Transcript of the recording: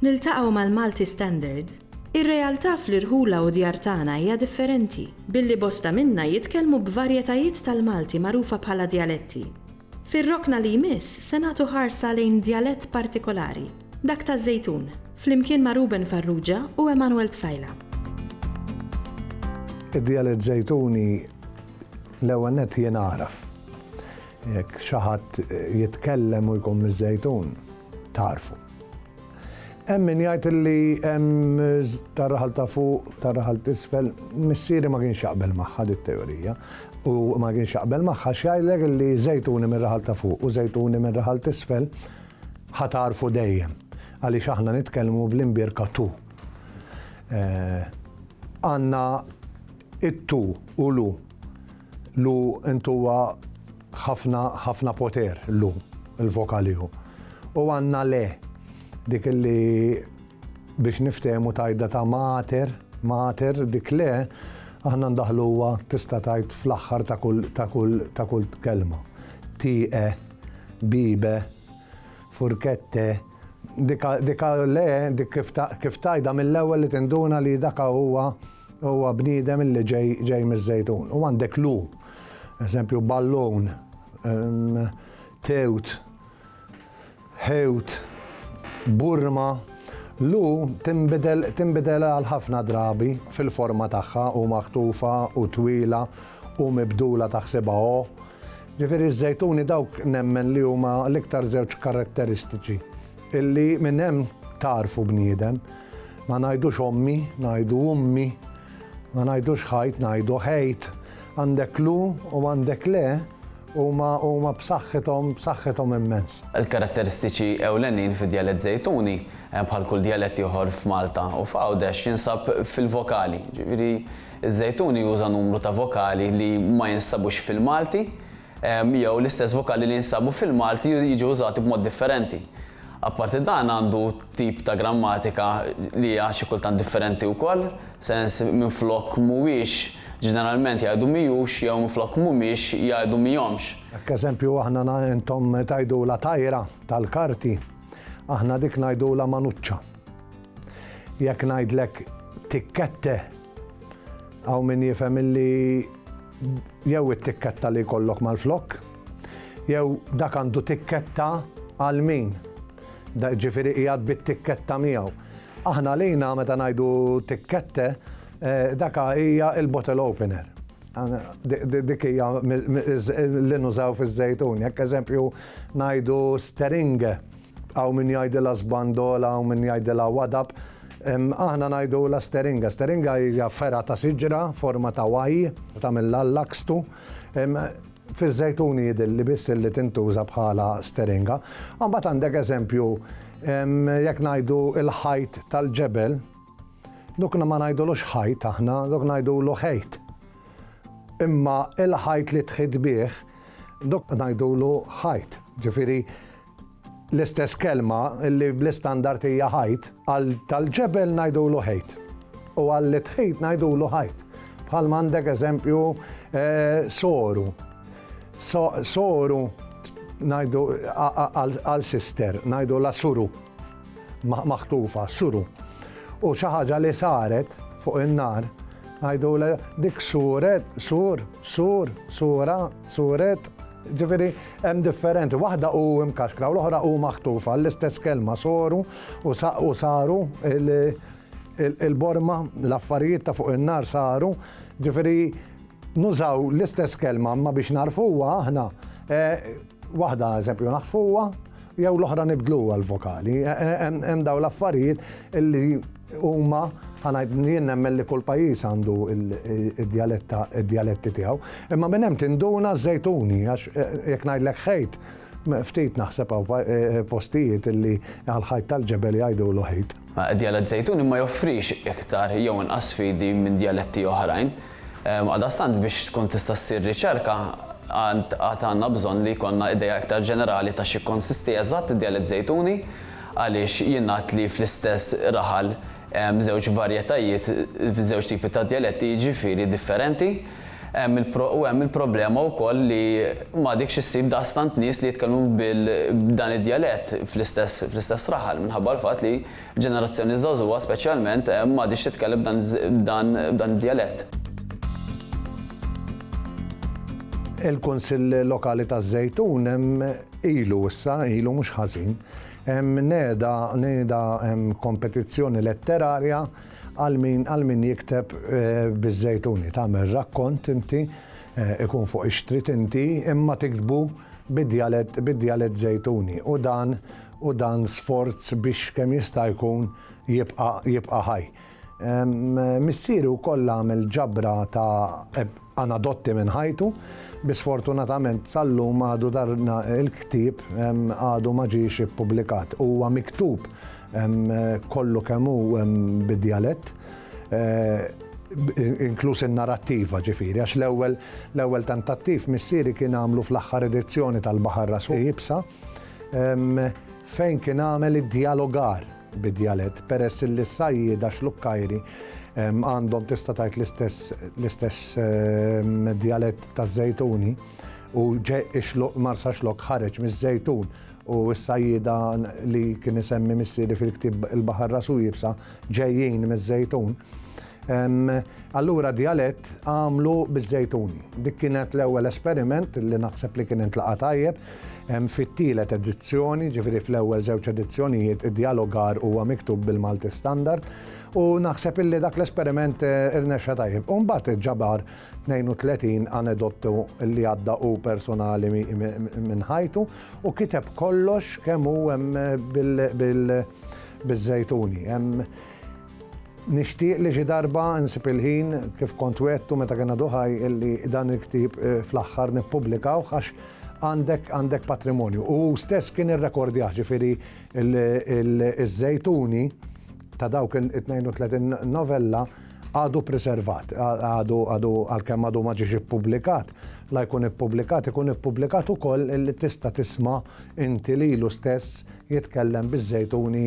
Niltaqgħu mal-Malti Standard? Ir-realtà fl-irħula u djar tagħna hija differenti, billi bosta minna jitkellmu b'varjetajiet tal-Malti magħrufa bħala djaletti. Fir-rokna li jmiss se nagħtu ħarsa lejn djalett partikolari, dak taż-Żejtun, flimkien ma' Ruben Farrugia u Emanuel Psaila. Id-djalett Żejtuni l-ewwel nett jien agħraf. Jekk xi ħadd jitkellem u jkun miż-Żejtun, tagħrfu. Hemm min jgħid li hemm tar-raħal ta' fuq, tar-raħal t'isfel, missieri ma kienx jaqbel magħha dit teorija u ma kienx jaqbel magħha x'jgħidlek li żejtuni minn raħal ta' fuq u żejtuni minn raħal t'isfel ħatarfu dejjem għaliex aħna nitkellmu bl-imbierka tu. Eh, għandna it-tu u lu Lu int huwa ħafna ħafna poter lu, il-vokali hu. U għandna le, dik li biex niftehmu tajda ta' mater, mater, dik le, aħna ndaħluha tista' tgħid fl-aħħar ta' kull ta' kull ta' kull kelma. Tieqe, bibe, furkette, Dik a le, dik kif tgħidha mill-ewwel li tinduna li dak a huwa huwa bniedem li ġej miż-Żejtun. U għandek lu, eżempju ballun, tewt, ħewt, burma. Lu tinbidel għal ħafna drabi fil-forma tagħha u maħtufa u twila u mibdula taħsibha o. Ġifieri ż-żejtuni dawk nemmen li huma l-iktar żewġ karatteristiċi illi minn hemm tagħrfu bniedem. Ma ngħidux ommi, ngħidu ummi, ma ngħidux ħajt, ngħidu ħejt. Għandek lu u għandek le huma huma b'saħħithom b'saħħithom immens. Il-karatteristiċi ewlenin fid-djalett Żejtuni, bħal kull djalett ieħor f'Malta u f'Għawdex, jinsab fil-vokali, ġifieri, Iż-Żejtuni juża numru ta' vokali li ma jinsabux fil-Malti, jew l-istess vokali li jinsabu fil-Malti jiġu użati b'mod differenti. Apparti dan għandu tip ta' grammatika li hija xi kultant differenti wkoll, sens minflok mhuwiex ġeneralment jgħidu mhijux jew minflok mhumiex jgħidu mhijomx. Hekk eżempju aħna intom tgħidulha tajra tal-karti, aħna dik ngħidulha manuċċa. Jekk ngħidlek tikkette, hawn min jifhem illi jew it-tikketta li jkollok mal-flokk, jew dak għandu tikketta għal min. Ġifieri qiegħed bit-tikketta miegħu. Aħna lejna meta ngħidu tikkette, eh, daka hija il-bottle opener. Dik hija li nużaw fiż-żejtun, jekk eżempju ngħidu steringe Hawn min jgħidilha sbandola, hawn min jgħidilha wadab. Aħna ngħidulha steringa. Steringa hija fergħa ta' siġra, forma ta' Y, tagħmilha l-lakstu. Fiż-żejtuni jidhirli biss li tintuża bħala steringa. Imbagħad għandek eżempju, jekk ngħidu l-ħajt tal-ġebel, dok ma ngħidulux ħajt aħna, dok ngħidulu ħejt. Imma l-ħajt li tħit bih, dok ngħidulu ħajt. Ġifieri, L-istess kelma li bl-istandard hija ħajt, għal tal-ġebel ngħidulu ħejt. U għall-itħit ngħidulu ħajt. Bħalma għandek eżempju eh, soru. Soru ngħidu għal sister, ngħidu la suru. Maħtufa, suru. U xi ħaġa li saret fuq in-nar Għajdu dik suret, sur, sur, sura, suret, Ġifieri hemm differenti, waħda hu imkaxkra u l-oħra hu maħtufa l-istess kelma soru u saru il-borma l-affarijiet ta' fuq in-nar saru, ġifieri nużaw l-istess kelma ma biex narfuha aħna eh, waħda eżempju naħfuha, Jew l-oħra nibdluha l-vokali. Hemm dawn l-affarijiet li huma ħanajt jien nemmen li kull pajjiż għandu id-djaletta id-djaletti tiegħu. Imma minn hemm tinduna żejtuni għax eh, jekk ngħidlek ħejt ftit naħseb hawn eh, postijiet li għal-ħajt tal-ġebel jgħidu l-ħejt. Djalett żejtuni ma joffrix iktar jew inqas sfidi minn djaletti oħrajn. Għaldaqstant biex tkun tista' ssir riċerka għand għad għandna bżonn li jkollna idea iktar ġenerali ta' x'jikkonsisti eżatt id-djalett Żejtuni għaliex jingħad li fl-istess raħal hemm żewġ varjetajiet, żewġ tipi ta' djaletti jiġifieri differenti. Hemm il u hemm il-problema wkoll li m'għadekx issib daqstant nies li jitkellmu bil b'dan id-djalett fl-istess fl-istess raħal minħabba l-fatt li Ġenerazzjoni żagħżugħa speċjalment m'għadhiex titkellem b'dan id-djalett. Il-Kunsill Lokali taż-Żejtun ilu issa, ilu mhux ħażin, neda neda kompetizzjoni letterarja għal min għal min jikteb biż-Żejtuni. Tagħmel rakkont inti, ikun fuq ix-xtrid inti, imma tiktbu bid-djalett bid-djalett Żejtuni u dan u dan sforz biex kemm jista' jkun jibqa' jibqa' ħaj. Missieri wkoll għamel ġabra ta' anadotti minn ħajtu, bi sfortunatament sal-lum għadu dan il-ktieb għadu ma ġiex ippubblikat. Huwa miktub kollu kemm hu bid-djalett, inkluż in-narattiva ġifieri, għax l-ewwel l-ewwel tentattiv missieri kien għamlu fl-aħħar edizzjoni tal-Baħar Ras Iebsa, fejn kien għamel id-djalogar bid-djalett peress li s-sajjieda xlukkajri għandhom tista' tgħid l-istess djalett taż-żejtuni u marsa xlok ħareġ miż-żejtun u s-sajjida li kien isemmi missieri fil-ktib il-Baħar Rasu Jibsa ġejjin miż-żejtun. Allura djalett għamlu biż-żejtun. Dik kienet l-ewwel esperiment li naħseb li kien intlaqa' tajjeb. Fit-tielet edizzjoni, ġifieri fl-ewwel żewġ edizzjonijiet, id-djalogar huwa miktub bil-Malti Standard u naħseb illi dak l-esperiment irnexxa tajjeb. U mbagħad ġabar 32 anedottu li għadda hu personali minn ħajtu u kiteb kollox kemm hu hemm biż-żejtuni. Nixtieq li xi darba nsib il-ħin, kif kont wegħdtu meta kien għadu ħaj, illi dan il-ktieb fl-aħħar nippubblikawh għax għandek għandek patrimonju. U hu stess kien irrekordjah, ġifieri ż-żejtuni ta' dawk it-32 novella għadu preservat, għadu għadu għalkemm għadu ma ġiex ippubblikat, la jkun ippubblikat, ikun ippubblikat ukoll illi tista' tisma' inti lilu stess jitkellem biż-żejtuni